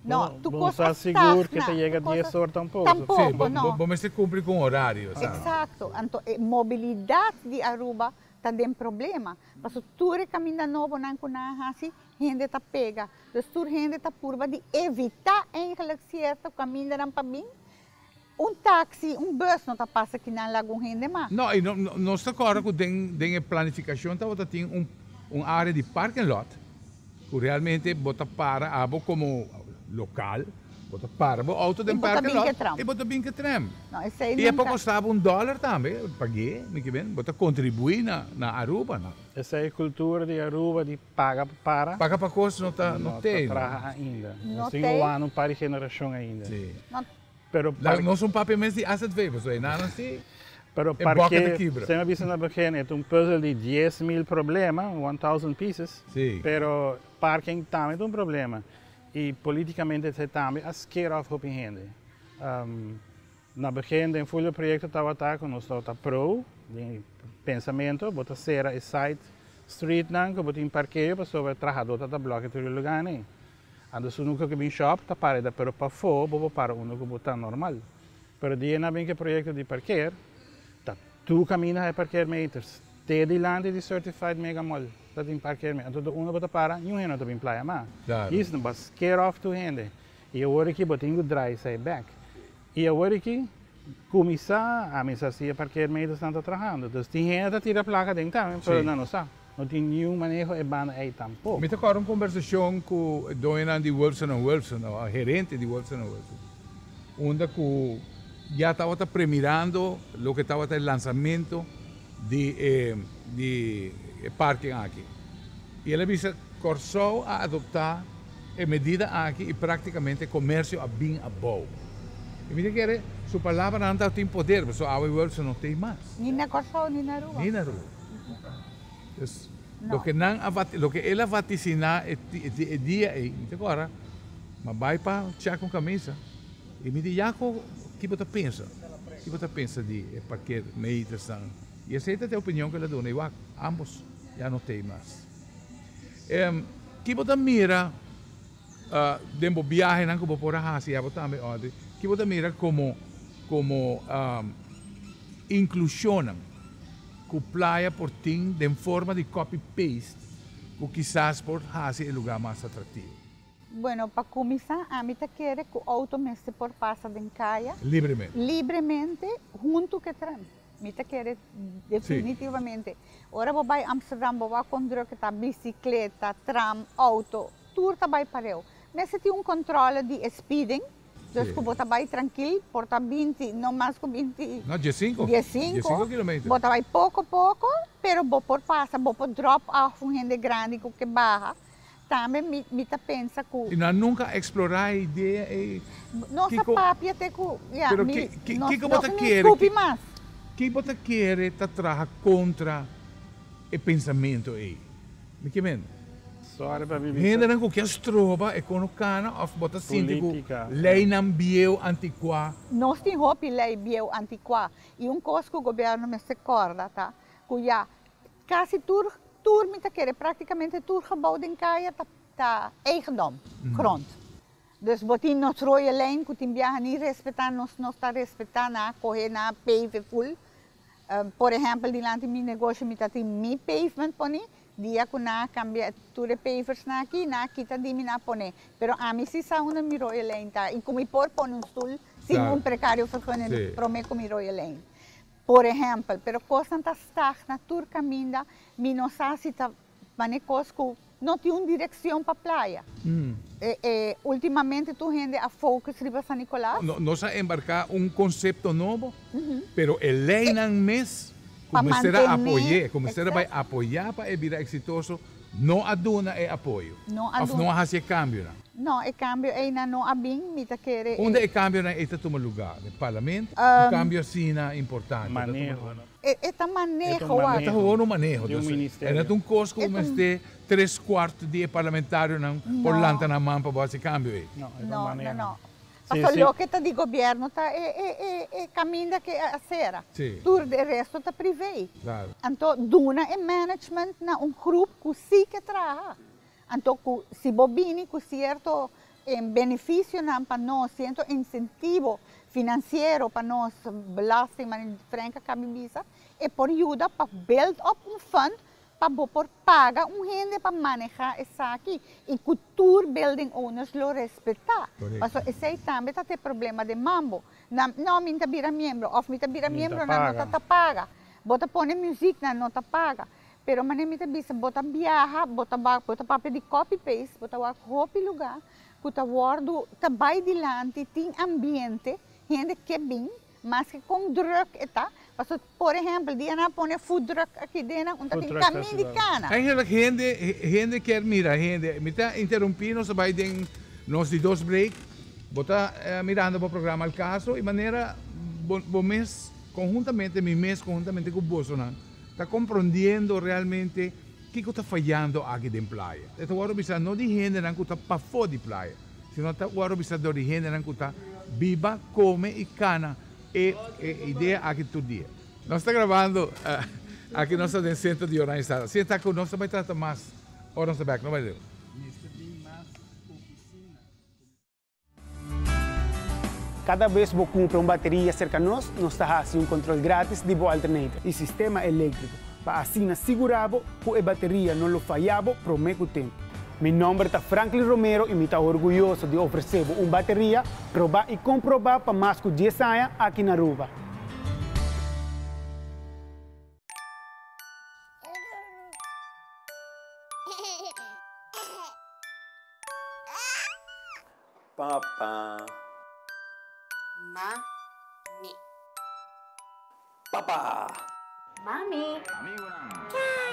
No, tu Bon kos sa sigur ke ta yega dies ora tampoco. Tampoco, no. Si, bo mester cumpli cu un horario, esaki. Exacto. Anto e mobilidad di Aruba ta den problema. Paso tur e caminda nobonan cu nan a haci, hende ta pega. Dus tur hende ta purba di evita, eigenlijk, cierto camindanan pa bin, Un taxi, un bus no ta pasa kinan la algun hende ma. No, y nos ta corda cu den, den e planificacion tabata tin un, un area di parking lot cu realmente bo ta para, abo como local, bo ta para bo auto den parking lot y bo ta bin ke tram. Y e por costa bo un dollar tambe, pag'e, mi ke ben, bo ta contribui na, na Aruba, no? Esei cultura di Aruba di Paga pa para. Paga pa cos no ta no te. No ta traha ainda. No te. Nos tin un wano pari generacion ainda. Si. No. Pero parke. Nos un papia mes di asset waiver so enan a si. Pero parke. E boca ta kibra. Semi a bisa na begin e ta un puzzle di dies mil problema, one thousand pieces. Si. Pero parking tambe ta un problema y politicamente esei tambe a scare off hopi hende. Na begin den Fulio proyekto tabata ku nos tabata pro den e pensamentu, bo ta sera e side streetnan ku bo tin parkeo pasobra e trahadó ta ta blòk'e tur e luganan. Anto su nunka ku bin shòp ta para eta pero pafó bo por para unda ku bo ta normal. Pero dia nan bin ku e proyekto di parker ta tur kaminda high parker meters te dilanti di Certified Mega Mall ta tin parker met anto tur unda bo ta para niun hende no ta bin playa mas. Yis no bas scare off tur hende I e wor aki bo tin ku drai sa e bek. I e wor aki kuminsá a misa si e parker meidesnan ta trahando. Dus tin hende ta tira plaka den tambe, pero nan no sa. No tin niun maneho e banda ei tampo. Mi ta kòrda un kombersashon ku e doñonan di Wilson and Wilson, òf herente di Wilson and Wilson, unda ku ya tabata premirando loke tabata e lansamento di e di e parking aki y el a bisa, Kòrsou a adoptá e medida aki y práktikamente e komersio a bin abou. Y mi ta kere su palabranan ta tin poder, pasobra awe Wilson no ta ei mas. Ni na Kòrsou ni na Aruba. Ni na Aruba. Dus, loke nan a vati, loke el a vatisiná e dia ei, mi ta kòrda, ma bai pa chèk un kamisa. I mi di, Yako, ki bo ta pensa? Ki bo ta pensa di e paket meitasnan? I esei ta t'e opinion ku el a duna, i wak, ambos ya no t'ei mas. Em, ki bo ta mira den bo biahenan ku bo por a hasi abo tambe òrdi? Ki bo ta mira komo, komo inklushonnan ku playa por tin den forma di copy-paste ku kisas por hasi e lugá mas atraktivo? Bueno, pa kuminsá ami ta kere ku outo mester por pasa den kaya. Libremente. Libremente huntu ku e tren. Mi ta kere definitivamente. Ora bo bai Amsterdam bo wak kon drùk ku ta bisikleta, tram, outo, tur ta bai pareu. Mester tin un kòntròle di e spiding, dus ku bo ta bai trankil, por ta binti, no mas ku binti. No, diesinko. Diesinko kilometer. Bo ta bai poko poko, pero bo por pasa, bo por drop off un hende grandi ku ke baha, Tambe mi mi ta pensa ku. Y nan nunca a explora e idea ey. Nos a papia te ku ya mi nos nos a nin skupi mas. Ki bo ta kere ta traha kontra e pensamentu ey? Mi ke mende. Sorry pa mi mi ta. Hendenan ku kia stroba e kono kana of bo ta sinti ku leinan bieu antikuá. Nos tin hopi lei bieu antikuá y un kos ku gobierno mester korda ta ku ya Kasi tur tur, mi ta kere praktikamente tur gebou den kaya ta ta eigendom, grond. Dus bo tin nos roye lijn ku tin biaha ni respetá, nos no ta respetá nan, a kohe nan a pave ful. Por ehèmpel dilanti mi negoshi mi ta tin mi pavement poni, dia ku nan a kambia tur e pavers nan aki, nan a kita di mi nan a pone. Pero ami si sa unda mi roye lijn ta i ku mi por pone un stul sin un precario vergunning promé ku mi roye lijn. Por ehèmpel, pero kosnan ta stagna tur kaminda, mi no sa si ta manera kos ku no tin un direkshon pa playa. Ultimamente tur hende a focus riba San Nicolas. Nos a embarka un konsepto nobo, pero e leinan mes ku mester a apoy'é, ku mester a bai apoyá pa e bira eksitoso, No a duna e apoyo. No a duna. Of no a hasi e cambionan. No, e cambio einan no a bin. Mi ta kere e. Unda e cambionan ei ta tuma lugar? Den Parlamento? Un cambio asina importante ta tuma lugar. Maneho. E ta maneho wak. E ta hoor un maneho. Di un ministerio. Ei no ta un cos cu bo mester tres cuart di e parlamentarionan por lanta nan man pa bo hasi e cambio ei. No, e ta un maneho. No, no, no. Pa cu loke ta di gobierno ta e caminda cu e a cera. Tur di e resto ta privee. Anto duna e management na un groep cu si ke traha. Anto cu si bo bini cu cierto beneficionan pa nos, cierto incentivo financiero pa nos belastingman y diferente caminbisa, e por yuda pa build up un fund pa bo por. paga un hende pa maneha esaki y cu tur building owners lo respeta. Paso esey tambe ta t'e problema den Mambo. Nan, No, mi n'ta bira miembro of mi ta bira miembro, nan no ta ta paga. Bo ta pone music, nan no ta paga. Pero manera mi ta bisa, bo ta biaha, bo ta wak, bo ta papia di copy paste, bo ta wak hopi lugar cu ta wordo, ta bay dilanti, tin ambiente, hende ke bin, Maske kon drùk e ta, paso por ehèmpel dia nan a pone food truck aki den nan un ta tin kamin di kana. Eigenlik hende hende kier mira hende. Mi ta interumpí nos a bai den nos di dos break. Bo ta mirando bo programa El Caso i manera bo bo mes konhuntamente mi mes konhuntamente ku bosonan ta komprondiendo realmente Kiko ta fayando aki den playa? E ta wòrdu bisa no di hendenan ku ta pafó di playa, sino ta wòrdu bisa dor di hendenan ku ta biba, kome i kana e idea aki tur dia. Nos ta grabando aki nos ta den Centro di Jornada Hispano. Si e ta ku nos ta bai trata mas ora nos ta bèk no bai leu. Kada bes bo kumpra un bateria serka nos, nos ta hasi un kontrol gratis di bo alternator i sistema eléktriko pa asina sigurá bo ku e bateria no lo fayá bo promé ku tempu. Mi nòmber ta Franklin Romero i mi ta orguyoso di ofresé bo un bateria probá i komprobá pa mas ku dies aña aki na Aruba. Papa. Mami. Papa. Mami. Kai.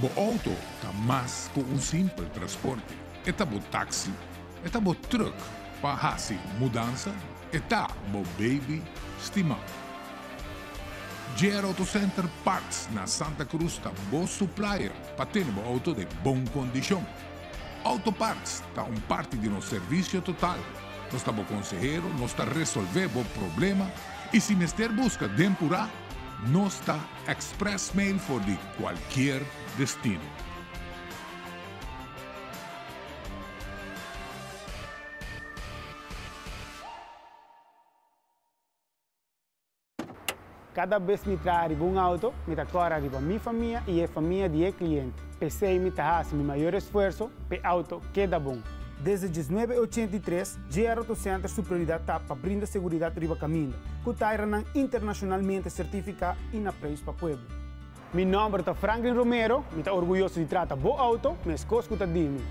Bo outo ta mas ku un simpel transporte. E ta bo taksi, e ta bo trùk pa hasi mudansa, e ta bo beibi stimá. JR Auto Center Parts na Santa Cruz ta bo suplaier pa tene bo outo den bon kondishon. Auto parts ta un parti di nos servisio total. Nos ta bo konsehero, nos ta resolvé bo problema i si mester buska den purá. Nos ta express mail for di cualkier destino. Cada bes mi traha riba un auto, mi ta cora riba mi famia y e famia di e cliente. P'esey mi ta haci mi mayor esfuerzo p'e auto keda bon. Desde diesnuebe ochenta i tres, Jierro to Center su prioridad ta pa brinda seguridad riba caminda, cu tairanan internacionalmente certifica y na preis pa pueblo. Mi nomber ta Franklin Romero, mi ta orguyoso di trata bo auto, mescos cu ta di mi.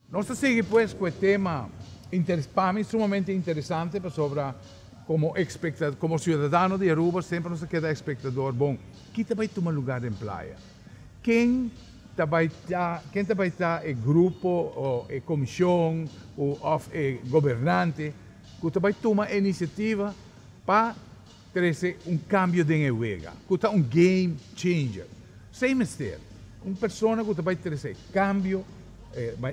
Nos ta sigui pues cu e tema interes, pa mi sumamente interesante pasobra como expecta, como ciudadano di Aruba semper nos a keda expectador, bon, ki ta bay tuma lugar den playa? Ken ta bai ta, ken ta bai ta e grupo o e komishon o òf e gobernante ku ta bai tuma e inisiativa pa trese un kambio den e wega, ku ta un game changer? Esei mester, un persona ku ta bai trese e kambio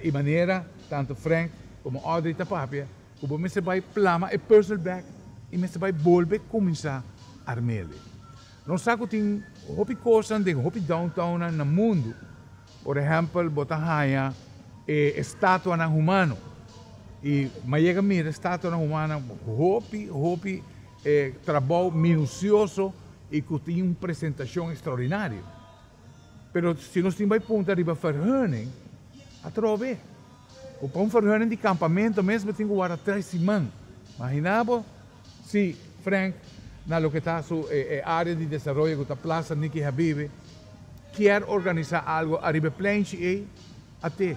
i manera tantu Frank komo Audrey ta papia, ku bo mester bai plama e puzzle bèk i mester bai bolbe kuminsá arm'e. Nos sa ku tin hopi kosnan den hopi downtownnan na mundu. Por ehèmpel bo ta haña e estatuanan humano i mayega mira e estatuanan humano hopi hopi trabou minusioso i ku tin un presentashon ekstraordinario. Pero si nos tin bai punta riba ferheuning atrobe. Ku pa un ferheuning di kampamentu mes bo tin ku wara tres siman. Imaginá bo Sí, Frank, na loke ta su e área di desaroyo ku ta Plaza Nicky Habibi, kier organisá algu ariba e pleinchi ei, a te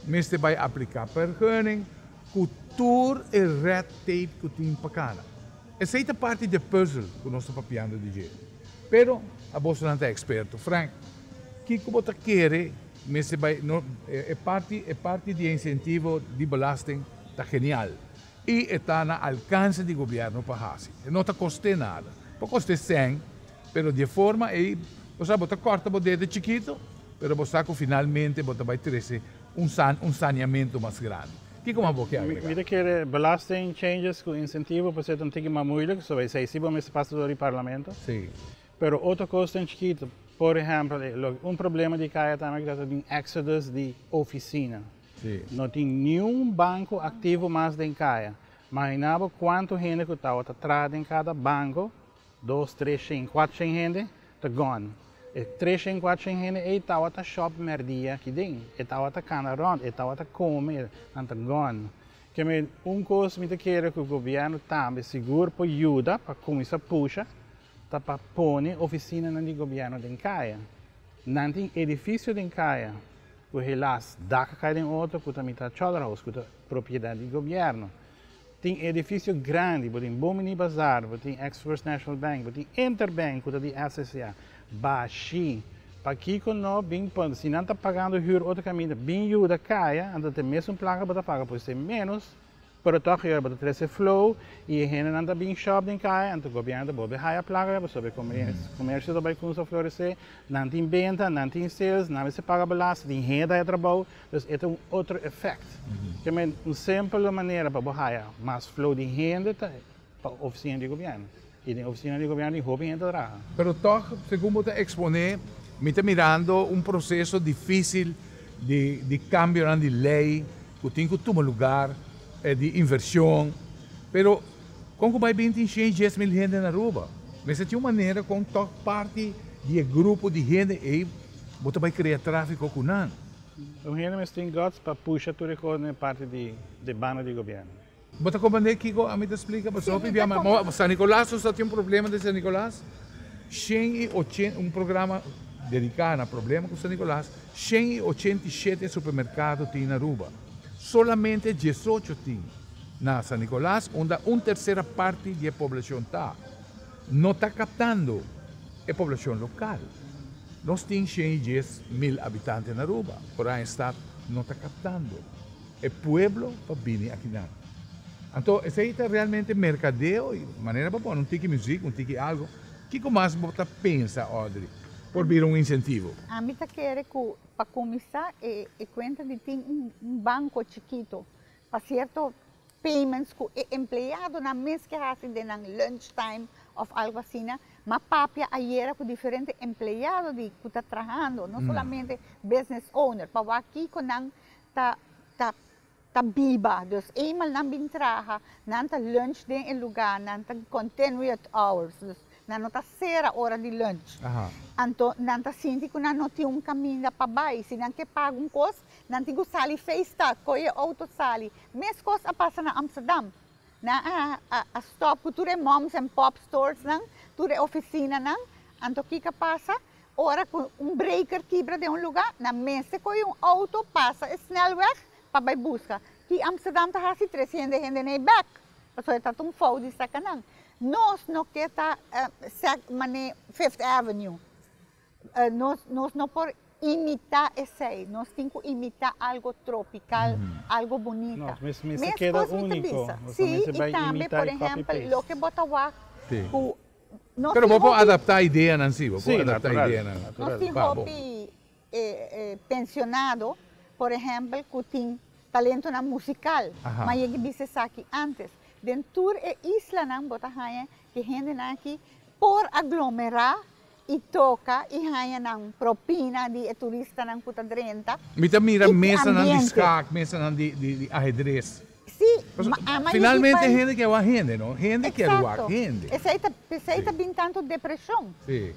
mester bai apliká pergunning ku tur e red tape ku tin pa kana. Esei ta parti di e puzzle ku nos ta papiando di dje. Pero abosonan ta eksperto, Frank, kiko bo ta kere mester bai, no, e parti, e parti di e insentivo di belasting ta genial. I e ta na alkanse di gobièrnu pa hasi. E no ta kost'é nada. Por kost'é sèn, pero di e forma ei bo sa bo ta kòrta bo dedo chikitu, pero bo sa ku finalmente bo ta bai trese un san, un saniamentu mas grandi. Kiko mas bo ke agregá? Mi ta kere belasting changes ku insentivo por seta un tiki mas muilik, so esei si bo mester pasa dor di parlamento. Sí. Pero otro kosnan chikitu, por ehèmpel, e lo un problema di kaya tambe ku ta ta bin exodus di ofisina. No tin niun banko aktivo mas den kaya. Mahiná bo kuantu hende ku tabata traha den kada banko, dos, tres shen, kuater shen hende, ta gòn. E tres shen, kuater shen hende ei tabata shòp mèrdia aki den. E tabata kana rònt, e tabata kome, nan ta gòn. Kèmen un kos mi ta kere ku gobièrnu tambe sigur por yuda pa kuminsá pusha. Ta pa pone oficinanan di gobierno den caya. Nan tin edificio den caya cu helas dak a cay den otro cu ta mitad cholderhouse cu ta propiedad di gobierno. Tin edificio grandi, bo tin Bomini Bazaar, bo tin ex First National Bank, bo tin Interbank cu ta di SCCA. Bashi. Pakico no bin pon, si nan ta pagando huur otro caminda, bin yuda caya, anto te mes un placa bo ta paga por esey menos. Pero tòg yòrda bo ta trese flow i e hendenan ta bin shòp den kaya, anto gobièrnu ta bolbe haya plaka pasobra e komersio ta bai kunsa floresé, nan tin benta, nan tin sales, nan mester paga belasting, tin hende haya trabou, dus e ta un otro efèkt. Kèmen un sempel manera pa bo haya mas flow di hende ta. Pa ofisina di gobièrnu. I den ofisina di gobièrnu tin hopi hende ta traha. Pero tòg, segun bo ta eksponé, mi ta mirando un proseso difísil di di kambionan di lei ku tin ku tuma lugar, di invershon. Pero kon ku bai bin tin shen dies mil hende na Aruba? Mester tin un manera kon tòg parti di e grupo di hende ei bo ta bai krea tráfiko ku nan. Un hende mester tin gòts pa pusha tur e kos na e parti di banda di gobièrnu. Bo ta comprende kico ami ta splica? Pasobra bo pibia ma bo San Nicolas nos ta tin un problema den San Nicolas, shen y ochenta, un programa dedica na problema cu San Nicolas, shen y ochenta y shete supermercado tin na Aruba. Solamente diesocho tin na San Nicolas, unda un tercera parti di e poblacion ta. No ta captando e poblacion local. Nos tin shen y dies mil habitante na Aruba, pero aña stad no ta captando. E pueblo pa bini aki nan. Anto esei ta realmente merkadeo i manera pa pone un tiki muzik, un tiki algo. Kiko mas bo ta pensa, Audrey, por bira un insentivo? Ami ta kere ku pa kuminsá e e kuenta di tin un un banko chikitu pa sierto payments ku e empleadonan mes ke hasi den nan lunch time òf algu asina. Mi a papia ayera ku diferente empleado di ku ta trahando, no solamente business owner, pa wak kiko nan. ta ta ta biba dus eemal nan bin traha nan ta lunch den e luga nan ta continue at hours dus nan no ta sera ora di lunch anto nan ta sinti ku nan no tin un kaminda pa bai si nan ke paga un kos nan tin ku sali feestad koge e outo sali mes kos a pasa na Amsterdam nan a a stop ku tur e moms en pop stores nan tur e ofisinanan anto kiko pasa Ora cu un breaker kibra den un lugar, nan mester coge un auto pasa e snelweg pa bay busca. Ki Amsterdam ta haci tres hende hende na e bek, pasobra e ta ta un fout di saca nan. Nos no ke ta sec mane Fifth Avenue, nos nos no por imita esey, nos tin cu imita algo tropical, algo bonita. No, mes mester Mi keda esposo mi ta unico, bisa, nos no si, mester bay y tambe, imita por e copy ejempel, paste. loke bo ta wacht cu. Pero bo por adapta ideanan si. Bo por adapta ideanan. Nos tin hopi pensionado, por ehempel, cu tin talentonan musical, ma e yegi bisa esaki antes. Den tur e islanan bo ta haya cu e hendenan aki por aglomera y toca y haya nan propina di e turistanan cu ta drenta. Mi ta mira mesanan di schaak, mesanan di ahedres. Finalmente hende kier wak hende no, hende kier wak hende. Pesei ta bin tantu depresion,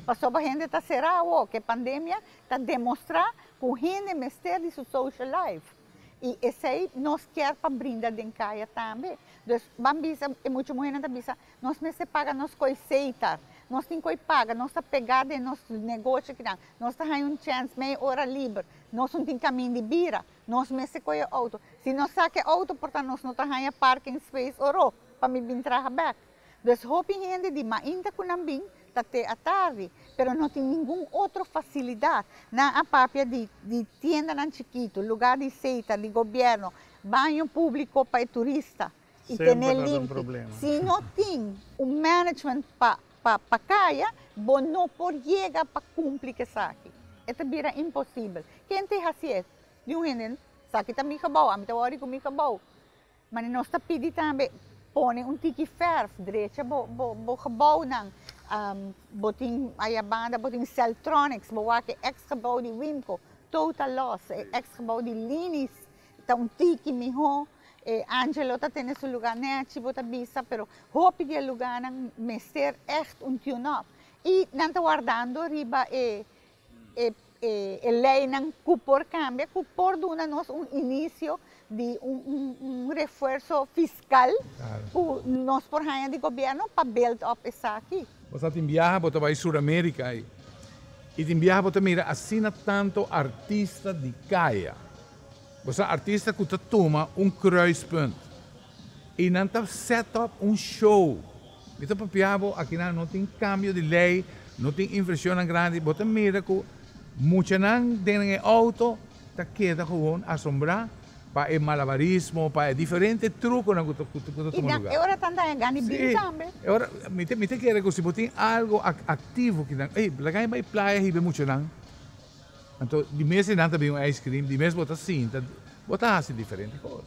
pasobra hende ta sera awor, ke pandemia ta demostra ku hende mester di su social life, i esei nos kier pa brinda den kaya tambe. Dus ban bisa, e mucha muhernan ta bisa, nos mester paga nos koi seita, nos tin koi paga, nos ta pega den nos negoshi kinan, nos ta haña un chèns mei ora liber, nos no tin kamin di bira. Nos mester koe e outo. Si nos sa ke outo por ta nos no ta haña parking space oro pa mi bin traha bek. Dus hopi hende di mainta ku nan bin ta te a tardi, pero no tin ningun otro fasilidat. Nan a papia di di tiendanan chikitu, lugá di seita di gobièrnu, baño públiko pa e turista. y tene limpi. Si no tin un management pa kaya, bo no por yega pa cumpli cu esaki. E ta bira imposible. Ken ta e haci es? Di un hende, esaki ta mi gebouw, ami ta worry cu mi gebouw. Mane nos ta pidi tambe, pone un tiki verf, drecha bo gebouwnan. Bo tin ayabanda, bo tin celtronics, bo wak e ex gebouw di Wimco, total loss, e ex gebouw di Linis. Ta un tiki miho e Angelo ta tene su luga nechi bo ta bisa pero hopi di e luga nan mester echt un tune up y nan ta wardando riba e e ley nan cu por cambia cu por duna nos un inicio di un refuerzo fiscal cu nos por haña di gobierno pa build up esaki. Bo sa tin biaha bo ta bai Sur America ai y tin biaha bo ta mira asina tanto artista di caya. Bo sa artista ku ta tuma un kruispunt i nan ta set op un show. Mi ta papia bo, akinan no tin kambio di lei, no tin invershonnan grandi. Bo ta mira ku muchanan den e outo ta keda gewoon asombrá pa e malabarismo, pa e diferente trukonan ku ta ku ta tuma luga. I e ora tanta hende gani bin tambe. Si, e ora mi ta mi ta kere ku si bo tin algu aktivo kinan, ey laga mi bai playa hib'e muchanan. Anto di mes di nan ta bin un ice cream, di mes bo ta sinta, bo ta hasi diferente kos.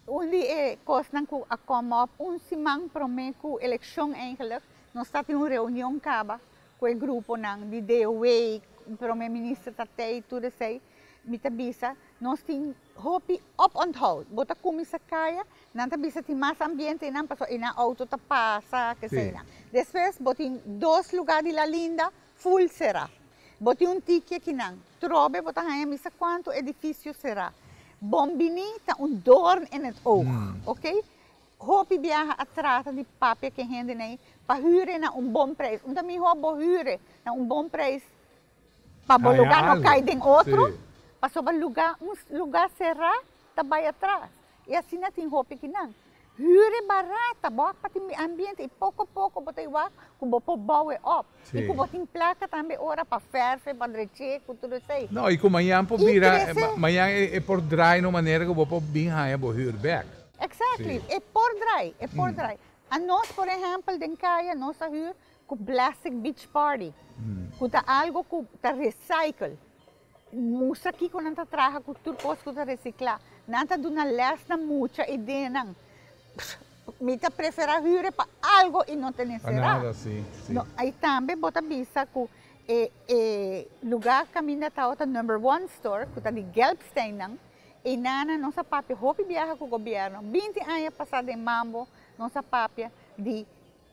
Un di e kosnan ku a come up un siman promé ku elekshon eigenlik, nos ta tin un reunion kaba ku e gruponan di DOW, Prome Minister ta tei, tur esei, mi ta bisa nos tin hopi opònthoud. Bo ta kuminsá kaya, nan ta bisa tin mas ambiente einan, pasobra einan outo ta pasa, ke eseinan. Despues bo tin dos lugá di Lalinda Full será. Bo tin un tikie kinan. Trobe bo ta haña misa cuanto edificio será. Bon bini ta un doorn in het oog. Ok. Hopi biaha a trata di papia ke henden ei pa hure na un bon prijs. Un ta mihor bo hure na un bon prijs pa bo luga no cai den otro. Pasobra luga, un luga será ta bay atras. I asina tin hopi ki nan. Hür e barata, bo a pa tin mi ambiente i poko poko bo ta iwak ku bo por bou e op. I ku bo tin plaka tambe ora pa fèrf'e, pa drech'e ku tur esei. No, i ku mañan por bira, mañan e por drai na un manera ku bo por bin haña bo hür bèk. Exactly, e por drai, e por drai. Anos por ehèmpel den kaya nos a hür ku blastic beach party, ku ta algo ku ta recycle. Mustra kiko nan ta traha ku tur kos ku ta resiklá. Nan ta duna lès na mucha ideanan. Mi ta preferá hüre pa algu i no tene será. I tambe bo ta bisa ku e e lugá kaminda tabatin number one store, ku ta di Gelbsteinnan, i nan a nos a papia hopi biaha ku gobièrnu. Binti aña pasá den Mambo nos a papia di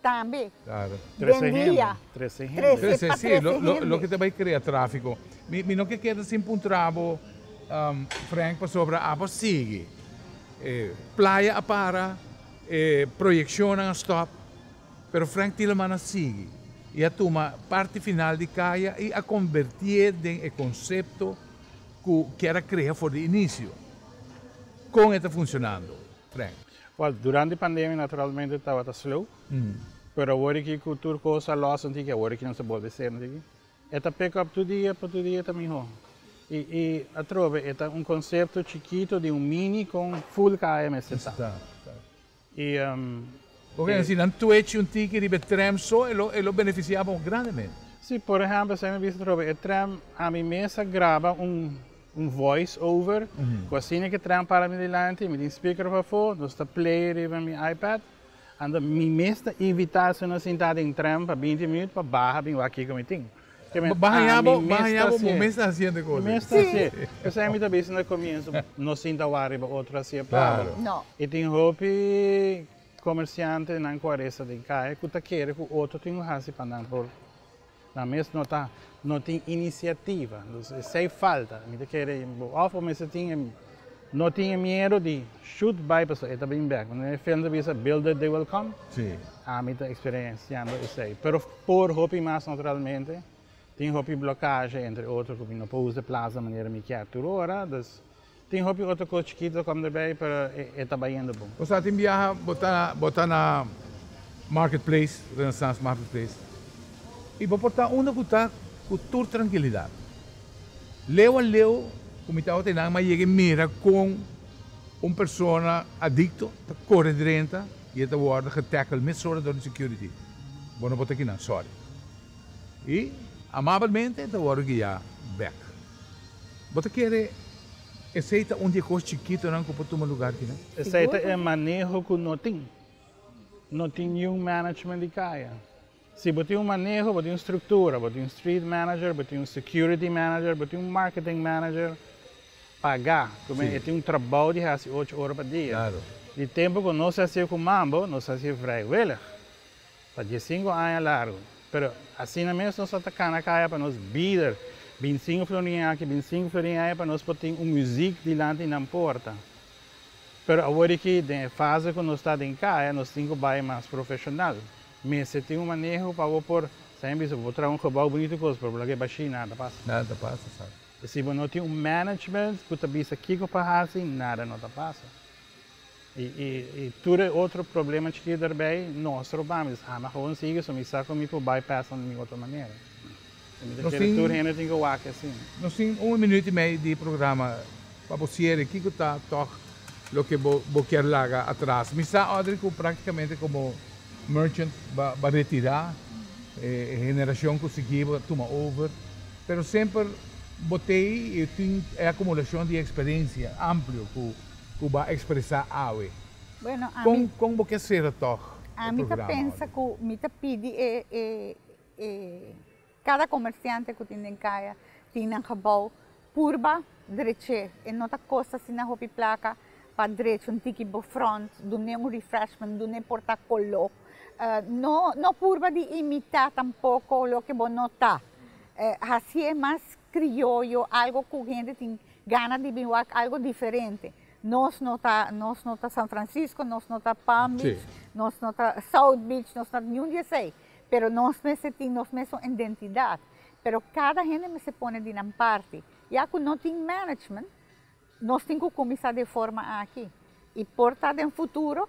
Tambe. Den dia. Trese hende. Trese, si. Loke ta bai krea trafiko. Mi no ke keda sin puntra bo, Frank, pasobra abo a sigui. E playa a para, e proyekshonnan a stòp, pero Frank Tieleman a sigui i a tuma parti final di Kaya i a kombertié den e konsepto ku Kera krea for di inisio. Kon e ta funshonando, Frank? Wel, durante pandemia naturalmente tabata slow, pero awor aki cu tur cos a los anto di awor aki nos a bolbe ser anto di aki, e ta pick up tur dia, pa tur dia ta miho. Y, y atrobe e ta un concepto chikito di un mini con full kaya mester ta. Ta, ta. Y, um. Oca e haci nan twitch un tiki riba e tram so, e lo, e lo beneficia bo grandemente. Si, por ehemplo, esei mi bisa atrobe, e tram, ami mes a graba un. Un voice over cu asina ke traha para mi dilanti, mi tin speaker op afo, nos ta play riba mi iPad, anto mi mes ta invita si no a sinta den tren pa binti minut pa baha bin wak kico mi tin. Baha ya bo, baha ya bo, bo mes ta haci ende cosa. Mi mes ta haci. P'esei mi ta bisa na comienzo, no sinta wak riba otro haci e pabo. Y tin hopi comerciantenan cu a resta den caya cu ta kere cu otro tin lo haci pa nan por Na mes no ta no tin iniciativa entonces esey falta mi ta kere bo of bo mester tin e no tin e miedo di should bay pasobra e ta bin bek wan e film ta bisa build it they will come Sí. ami ta experienciando esey pero por hopi mas no realmente tin hopi blocaje entre otro cu mi no por usa e plaza manera mi kier tur ora dus. Tin hopi otro cos chikito com de bay pero e ta bayendo bon. Bo sa tin biaha bo ta bo ta na market place renaissance market place y bo por ta unda cu ta cu tur trankilidad leu a leu cu mi ta awor ta nan ma yega y mira con un persona adicto ta core drenta y e ta wordo getackle mesora door di security bo no por ta kinan sorry y amablmente e ta wordo guia bek. Bo ta kere esei ta un di e kos chikitonan ku por tuma lugar di nan? Esei ta e maneho ku no tin. No tin niun management di kaya. Si bo tin un maneho, bo tin un struktura, bo tin un street manager, bo tin un security manager, bo tin un marketing manager pagá, kuma e tin un trabou di hasi ocho ora pa dia. Di tempu ku nos hasié ku Mambo, nos hasié vrij welig. Pa diescinco aña largo. Pero asina mes nos a ta cana caya pa nos bider bincinco florin aki, bincinco florin aya pa nos por tin un muziek dilanti nan porta. Pero awor di ki den e fase cu nos ta den caya nos tin cu bay mas profesional. Mester tin un maneho pa bo por, sa hen bisa, bo por traha un gebouw bunito cos pero bo laga e bashi nada ta pasa. Nada ta pasa sa. Y si bo no tin un management cu ta bisa kico pa haci nada no ta pasa. Y tur e otro problema chikit derbey nos roba mi. Sa mi gewoon sigui so mi sa cu mi por bypass nan di mi otro manera. Y mi ta kere tur hende tin cu wak asina. Nos tin un minuut y mei di programa. Pa bo ciere kico ta toch loke bo kier laga atras? Mi sa Audrey cu practicamente como merchant ba retira. E generacion cu sigui bo ta tuma over. Pero semper bo tey y tin e acumulacion di experiencia amplio cu. ku bo a ekspresá awe. Bueno, ami. Kon bo ke sera tòg e programa? Ami ta pensa ku mi ta pidi e e e kada komersiante ku tin den kaya tin nan gebou purba drech'é. E no ta kost asina hopi plaka pa drech un tiki bo front, dun'é un refreshment, dun'é por ta koló. No no purba di imitá tampoko loke bo no ta. Hasié mas krioyo, algo ku hende tin Gana di bin wak algo diferente. Nos no ta nos no ta San Francisco, nos no ta Palm Beach, sí. nos no ta South Beach, nos no ta niun di esei, pero nos mester tin nos mes un identidad, pero cada hende mester pone di nan parti. Ya cu no tin management, nos tin cu cuminsa den forma aki. Y por ta den futuro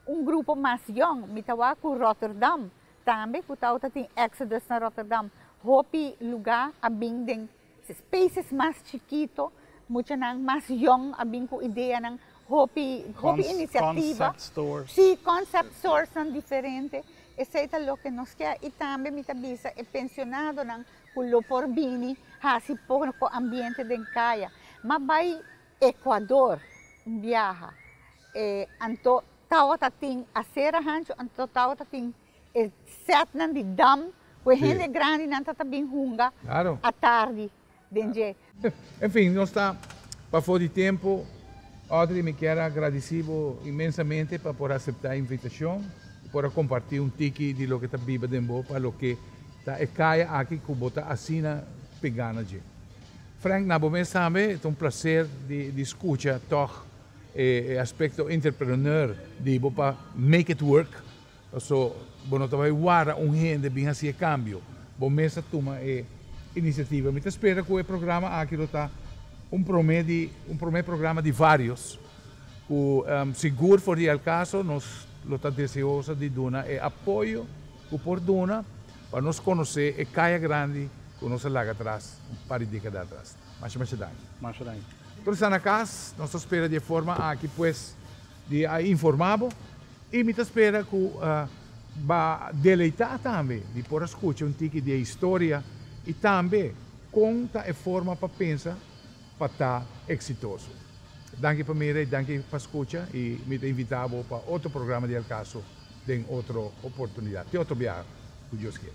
un grupo mas yong. Mi ta wak cu Rotterdam tambe, cu ta ota tin Exodus na Rotterdam, hopi lugar a bin den. Ses países mas chikito, muchanan mas yòn a bin ku ideanan, hopi hopi inisiativa. Concept stores. Sí, concept storesnan diferente. Esei ta loke nos ke. I tambe mi ta bisa e pensionadonan ku lo por bini hasi poko ambiente den kaya. M'a bai Ekuador un biaha, e anto tawata tin asera hanchi, anto tawata tin. E setnan di dam ku e hende grandinan ta ta bin hunga atardi den dje. En fin, nos ta pafó di tempu. Audrey, mi kier a gradisí bo inmensamente pa por a aseptá e invitashon i por a kompartí un tiki di loke ta biba den bo pa loke ta e kaya aki ku bo ta asina pe gana dje. Frank, na bo mes tambe ta un plaser di skucha tòg e aspekto entrepreneur di bo pa make it work Paso bo no ta bai wara un hende bin hasi e kambio, bo mes a tuma e inisiativa. Mi ta spera ku e programa aki lo ta un promé di un promé programa di vários ku sigur for di el kaso nos lo ta deseoso di duna e apoyo ku por duna pa nos konosé e kaya grandi ku nos a laga atras un par di dékada atras. Masha masha danki. Masha danki. Tur esnan na kas, nos ta spera di e forma aki pues di a informá bo. I mi ta spera ku ba deleitá tambe di por a skucha un tiki di e historia i tambe kon ta e forma pa pensa pa ta eksitoso. Danki pa mira i danki pa skucha i mi ta invitá bo pa otro programa di El Caso den otro oportunidat. Te otro biaha, ku Dios kier.